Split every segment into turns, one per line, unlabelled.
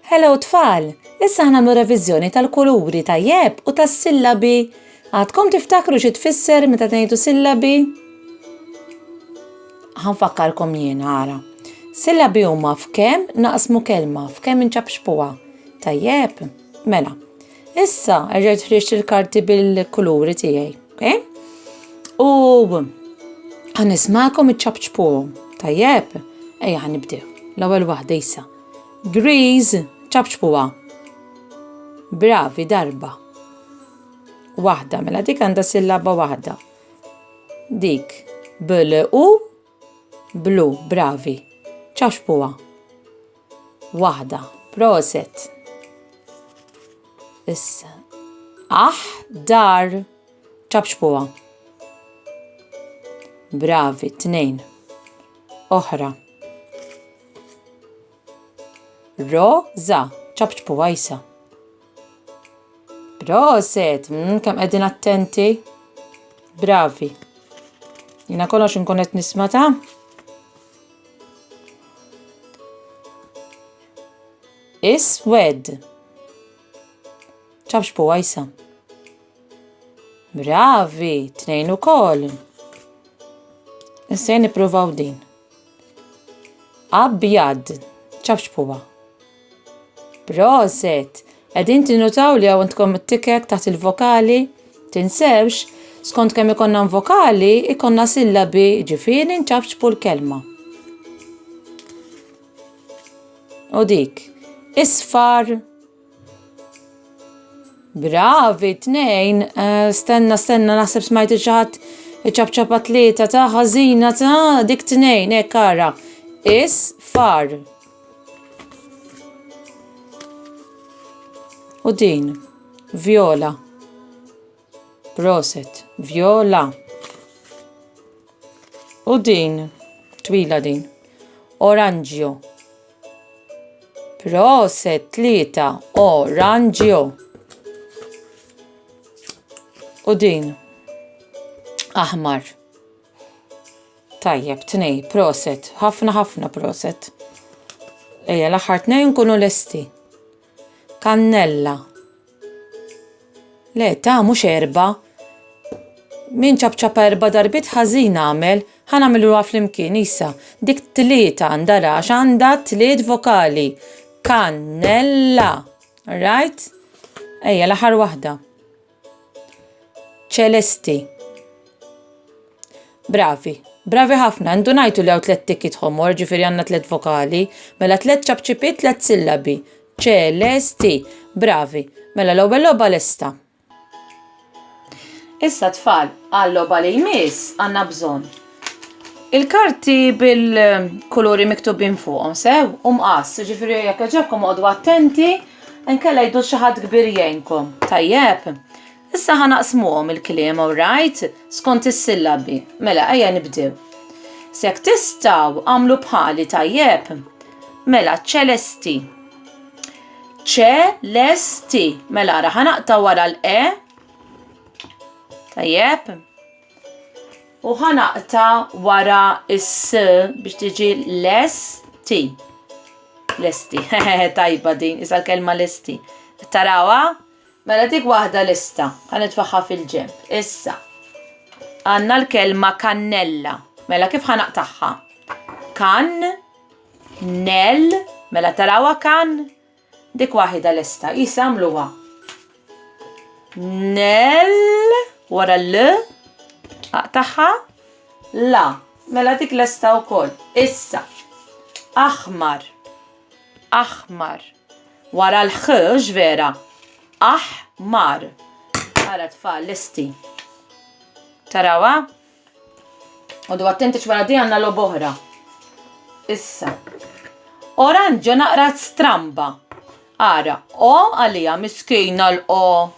Hello tfal! Issa ħnamlu reviżjoni tal-kuluri tajjeb u tas-sillabi. Għadkom tiftakru xi tfisser meta tgħidu sillabi? Ħanfakkarkom jien ara. Sillabi huma f'kemm naqsmu kelma, f'kemm inċapxpuha. Tajjeb? Mela, Issa, rġajt ħriġt il-karti bil-kuluri tiegħi, okay? U għan ismakom iċċabċpuhom. Tajjeb, ejja għan nibdew. L-ewwel waħda issa. Greez, ċabċpuha. Bravi darba. Waħda, mela dik għandha sillaba waħda. Dik, bil u Blu, bravi. Ċaxpuha. Waħda. Proset. Issa. Aħ, dar. Ċaxpuha. Bravi, tnejn. Oħra. Ro, za, ċapċpu għajsa. Proset, mm, kam għedin attenti. Bravi. Jina kollox nkun qed nisma' ta' Iswed. ċabx po għajsa. Bravi, tnejn u koll. Nsejn niprovaw din. Abjad, ċafx puwa. Proset! Qegħdin tinutaw li għandkom it-tikek taħt il-vokali? Tinsewx, skont kemm ikonna vokali, ikonna sillabi ġifieri nċafċpu l-kelma. U dik, isfar, Bravi tnejn. Eh, stenna, stenna, naħseb smajt xi ħadd iċapċapa tlieta ta' ħażina ta' dik tnejn, hekk ara. Is far. U din, viola. Proset, viola. U din, twila din. Oranġio. Proset tlieta oranġio. U din aħmar. Tajjeb, tnej, proset, ħafna ħafna proset. Ejja, l-aħħar tnejn kunu lesti. Kannella. Le, ta' mhux erba'. Min ċapċapa erba' darbiet ħażin għamel, ħa nagħmilha flimkien isa. Dik tlieta għandha rax għandha tliet vokali. Kannella. Right? Ejja l-aħħar waħda. Ċelesti. Bravi. Bravi ħafna, ndunajtu li għaw tlet tikit ħomor, ġifiri għanna tlet vokali, mela tlet ċapċipit, tlet sillabi. ċe, le, sti, bravi. Mela l ewwel loba lesta. Issa tfal, għal loba li jmiss għanna bżon. Il-karti bil-kuluri miktubin fuqhom sew u mqas, ġifieri jekk ġobkom għodu attenti, nkella jdu xi ħadd kbir jgħinkom. Tajjeb. Issa ħa naqsmuhom il-kliem alright skont is-sillabi. Mela ejja nibdew. Sek tistgħu għamlu bħali tajjeb. Mela ċelesti. Ċelesti. Mela ra ħanaqta wara l-e. Tajjeb. U ħa naqta wara s biex tiġi l-esti. L-esti, tajba din, isa l-kelma l-esti. Tarawa? Mela dik waħda lista, ħan itfaħħa fil-ġemp. Issa, għanna l-kelma kannella. Mela kif ħan taħħa? Kan, nel, mela tarawa kan, Dik waħida lesta, qis għamluha. Nel wara l aqtaħħa la. Mela dik lesta wkoll. Issa. Aħmar. Aħmar. Wara l-ħ vera. Aħmar. Ara tfal lesti. Tarawa? Għodu attenti x'wara di għanna lob oħra. Issa. Oranġo naqra stramba. Ara, o għalija miskina l-o.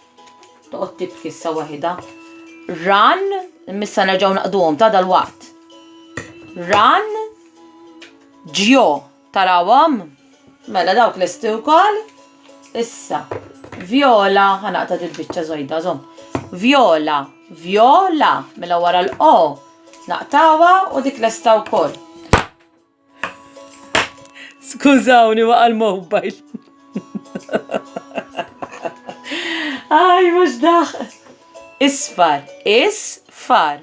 Toqgħod tibki issa waħida. Ran, missa nerġgħu naqduhom ta' dal-waqt. Ran, ġjo. Tarawhom? Mela dawk lesti wkoll. Issa, vjola, ħanaqta dil-biċċa żojda żomm. Vjola, vjola, mela wara l-o, naqtawa u dik lesta wkoll. Skużawni waqa' l-mobile. Aj, mhux daħ. Isfar, isfar.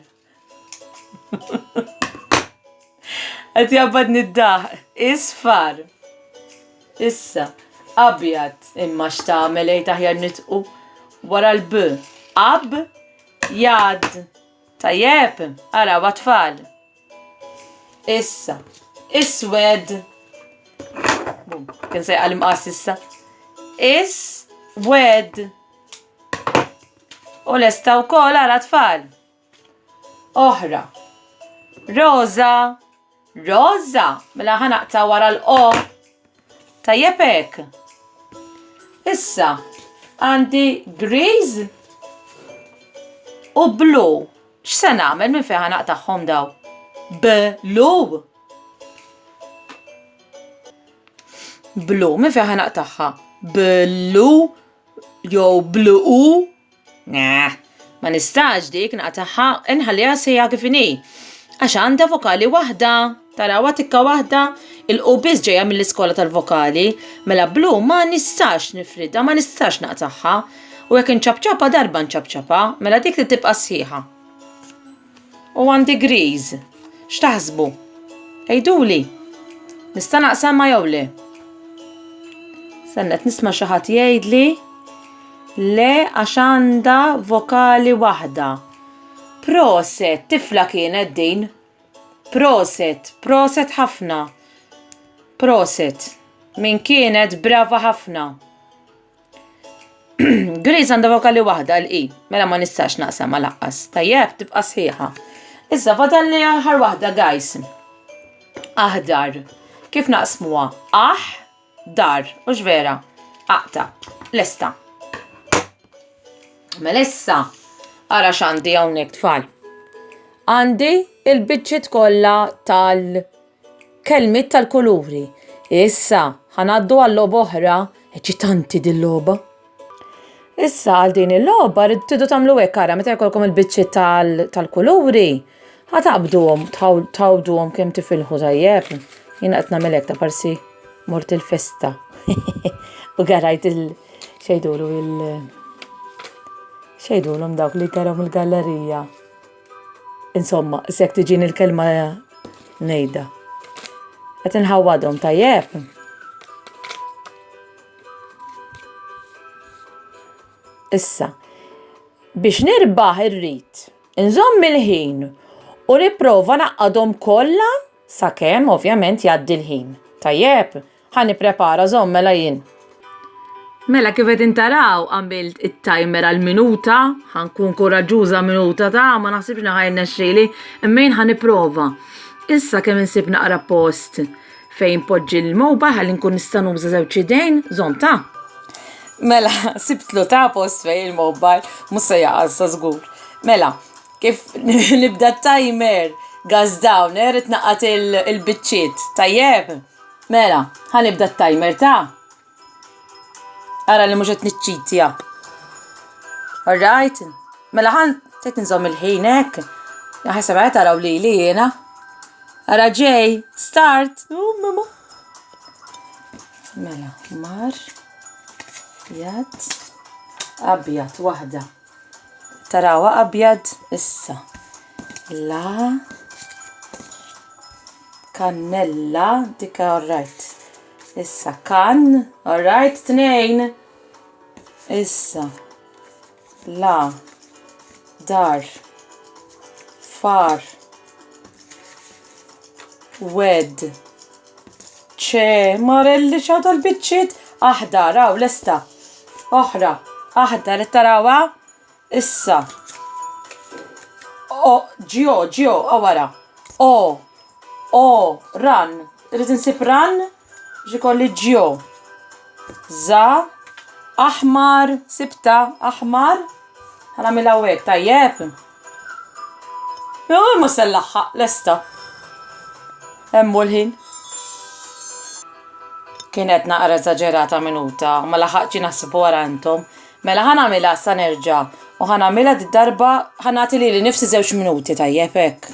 Qed jabbad niddaħ, isfar. Issa, abjad, imma x'tagħmel ejt aħjar nitqu wara l-b. Ab, jad. Tajjeb, ara watfall. Issa, iswed. Bum, kien se jqal imqas issa. Is, wed. U lesta wkoll ara tfal. Oħra. Rosa. Rosa. Mela ħanaqta wara l-o. Tajjeb hekk. Issa għandi griz u blu. X'se nagħmel minn fejn ħanaqtagħhom daw? Blu. Blu, minn fejn ħanaqtagħha? Blu jew blu Nah, ma nistax dik naqtaħħa inħalliha sejja kif inhi. Għax għandha vokali waħda, tarawha tikka waħda, il-qu biss ġejja mill-iskola tal-vokali, mela blu ma nistax nifridha, ma nistax naqtaħħa. U jekk inċabċabha darba nċabċabha, mela dik li tibqa' sħiħa. u 1 degrees. X'taħsbu? Ejduli, nista' naqsam ma jew le? Sennet nisma' xi ħadd jgħidli le għax għandha vokali waħda. Proset, tifla kienet din. Proset, proset ħafna. Proset, min kienet brava ħafna. Grace għandha vokali waħda l-i, mela ma nistax naqsam ma laqqas. Tajjeb, tibqa' sħiħa. Issa fadal li aħħar waħda, guys. Aħdar. Kif naqsmuha? Aħ, dar, u vera. Aqta, lesta. Mela issa, ara x'għandi hawnhekk tfal. Għandi il-biċċiet kollha tal- Kelmiet tal-kuluri. Issa, ħa ngħaddu għal logħba oħra. Eċitanti din logħba. Issa għal din il-logħba rridu tidu tagħmlu hekk ara meta jkollkom il-biċċi tal-kuluri. Ħa taqbduhom, tawduhom kemm tifilħu tajjeb. Jien qed nagħmel hekk ta' parsi mort il-festa. U garajt il- xejdulu il- xejdulhom dawk li garhom il-gallerija. Insomma, sekk tiġini l-kelma nejda. Qed inħawwadhom tajjeb. Issa, biex nirbaħ irrid inżomm il-ħin u nipprova naqqadhom kollha sakemm ovvjament jgħaddi l-ħin. Tajjeb, Ħa nipprepara żomm mela jien. Mela kif qegħdin taraw għamilt it-timer għal minuta, ħa nkun kuraġġuża minuta ta' ma naħsibx li ħajn nexxieli, imma jien ħa nipprova. Issa kemm insib naqra post fejn poġġi l-mobile ħalli nkun nista' nuża żewġ idejn, żomm ta' Mela, sibtlu ta' post fej il-mobile, musa jaqal sa' zgur. Mela, kif nibda timer, gaz dawner, it-naqat il-bicċiet, tajjeb? Mela, ħa nibda t-timer ta' Ara li mhux qed niċċitja. Alright? Mela ħan qed nżomm il-ħin hekk. Ħaseb qed taraw li li jiena. Ara ġej, start. Mela, mar, jad, abjad, waħda. Tarawa abjad issa. La kannella dik alright. Issa kan, alright tnejn. Issa la dar far wed ċe, Marelli x'għadha l-biċċiet aħdar, hawn lesta. Oħra, aħdar qed tarawha? Issa. O, ġio, ġio, o wara. O, o, ran. Rrid insib ran, ġikolli ġio. Za, aħmar, sibta, aħmar. Għanamil għawek, tajjeb. Jo imma se nlaħħaq lesta. Hemm l-ħin. Kienet naqra eżaġerata minuta, ma laħaqċi naħseb wara intom. Mela ħan għamilha sa nerġa' u ħan għamilha d-darba ħan nagħti li nifsi żewġ minuti tajjeb hekk.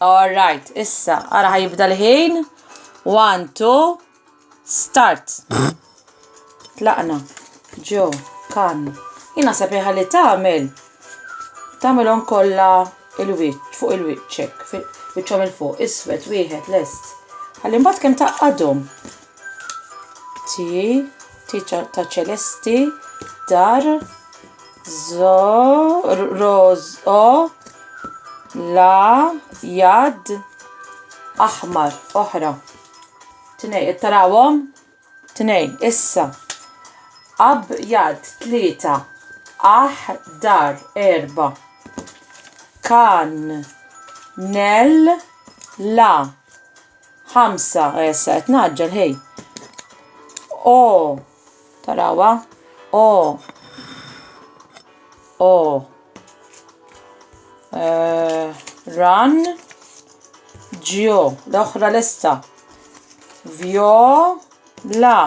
All right, issa, ara ħajibda l-ħin. One, two, start. Tlaqna, ġo, kan. Jina sepiħa li tamel. Tamelom kolla il-wicċ, fuq il-wicċek, fuq il-wicċom il-fuq, iswet, wieħed, lest. Għallim bat kem taqqadom. Ti, ti ta' ċelesti, dar, zo, roz, o, la, jad, aħmar, oħra. Tnej, tarawom? Tnej, issa. Ab, jad, tlieta, aħ, dar, erba. Kan, nel, la, Ħamsa, issa qed naġġel ħej. O, tarawa, o, o. Eh, run, ġio, l-oħra lesta. Vio, la,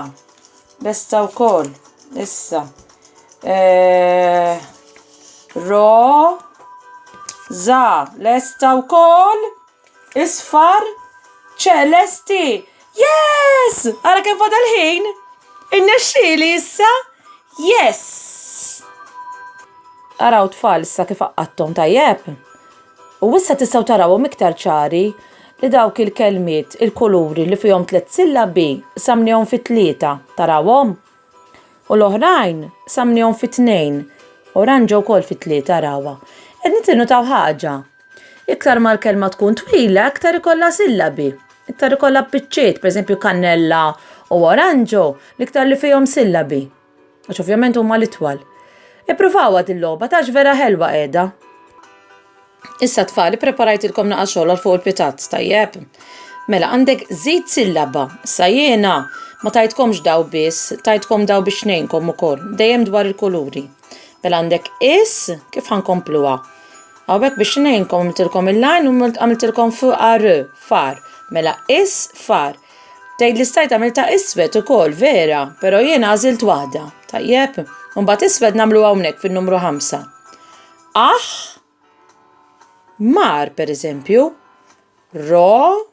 lesta u koll, issa. Eh, ro, za, lesta u koll. Isfar ċelesti! Yes! Ara kemm fadal ħin! Innexxieli issa? Yes! Araw tfal issa kif qaqqattom tajjeb. U issa tistgħu tarawhom iktar ċari li dawk il-kelmiet, il-kuluri li fihom tliet sillabi, samnihom fit-tlieta, tarawhom? U l-oħrajn samnihom fi tnejn, oranġa wkoll fi tlieta rawha. Qed nitilnu taw ħaġa. Iktar ma l-kelma tkun twila, iktar ikollha sillabi. Iktar ikollha biċċiet, pereżempju kannella u oranġo, l-iktar li fihom sillabi. Għax ovvjament huma l-itwal. Ippruvawha din logħba ta' vera ħelwa qiegħda. Issa tfal, preparajtilkom naqa xogħol għal fuq il-pitat, tajjeb? Mela, għandek zid sillaba, sa jena, ma tajtkomx daw biss, tajtkom daw biex nejnkom u koll, dejjem dwar il-kuluri. Mela għandek is, kif ħankompluwa? Għawek biex nejnkom għamiltilkom il-lajn u għamiltilkom far, far. Mela is, far. Tgħid li stajt għamilta iswed ukoll, vera, però jena għażilt waħda, tajjeb? Mbagħad iswed nagħmlu hawnhekk fin-numru 5. Aħ, mar, per eżempju, ro,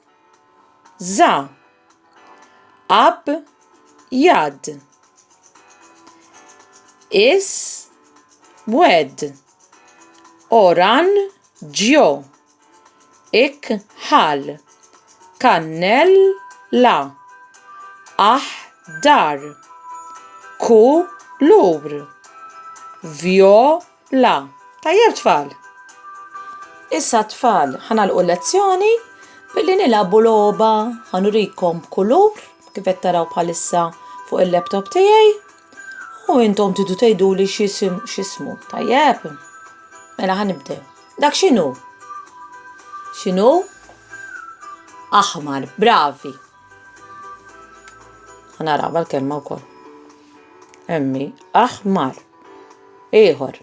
za. Ab, jad. Is, wed. Oran, ġjo. ikħal, kannella, aħdar, kulur, vjola. Tajjeb tfal! Issa tfal, ħanalqu lezzjoni billi nilagħbu logħba ħanurikom kulur kif qed taraw bħalissa fuq il-laptop tiegħi. U intom tidu tgħidu li xisim xismu. Tajjeb. Mela ħan nibdew. Dak x'inhu? X'inhu? Aħmar, bravi. Ħanaraba l-kelma wkoll. Emmi, aħmar. Ieħor.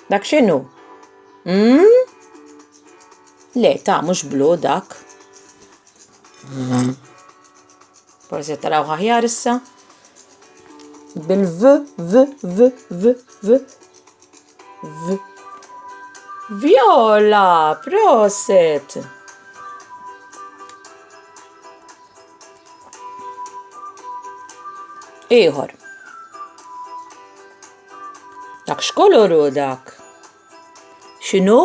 Dak x'inhu? Mm? Le, ta' mhux blu dak. Mm. Forsi taraw ħahjar issa. Bil-v, v, v, v, v, v. Viola, proset! Iħor. Dak xkoluru dak. X'inhu?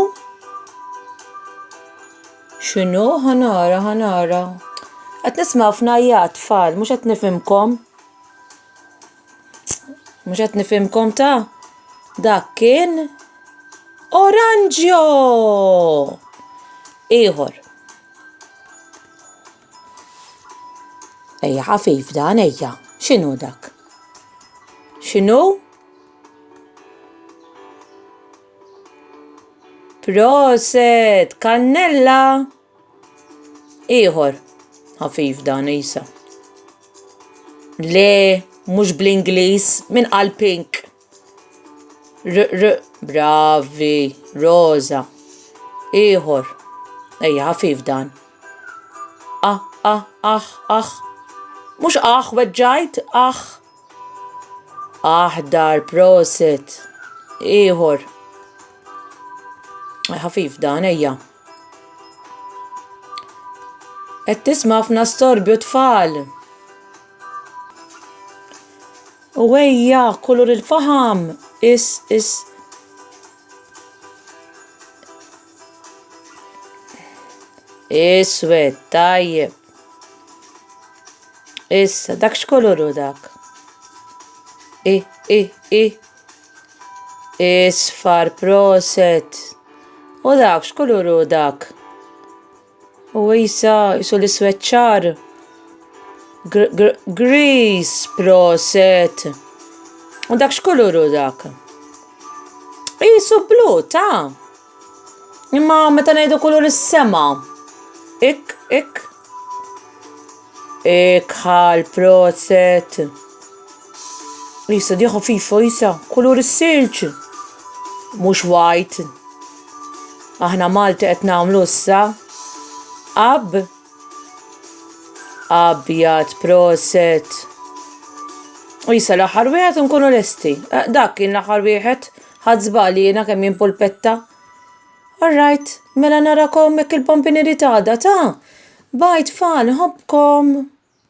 X'inhu? Ħanara, ħanara. Qed nisma' ħafna jgħat tfal, mhux qed nifhimkom. Mhux qed nifhimkom ta' dak kien oranġjo! Ieħor. Ejja ħafif dan ejja. X'inhu dak? X'inhu? Proset, kannella! Ieħor, ħafif dan isa. Le, mhux bl-Ingliż, minn qal pink. R, r, bravi, roza. Ieħor. Ejja, ħafif dan. Ah, ah, ah, ah. Mux ah, weġġajt, ah. Aħdar, proset. Ieħor. Ħafif dan, ejja. Et tisma' ħafna storbju tfal. U ejja, kulur il-faħam! Is, is. Iswed, tajjeb. Issa, dak x'koluru dak? I, i, i. Isfar, proset. U dak x'koluru dak? U Isa isu l-iswed ċar. Gris, proset. U dak x'kuluru dak? Isu blu, ta' Imma meta ngħidu kulur is-sema. Ik, ik. Ikħal, proset. Lisa diħa fifa jisa, kulur is-silġ. Mhux wajt. Aħna Malti qed nagħmlu issa. Ab. Abjad, proset. Jisa l-aħħar wieħed nkunu lesti. Eh, dak kien l-aħħar wieħed. Ħadd żbali jiena kemm jimpulpetta. petta All right, mela narakom hekk il-Bambini Rit għada, ta? Bye tfal, nħobbkom!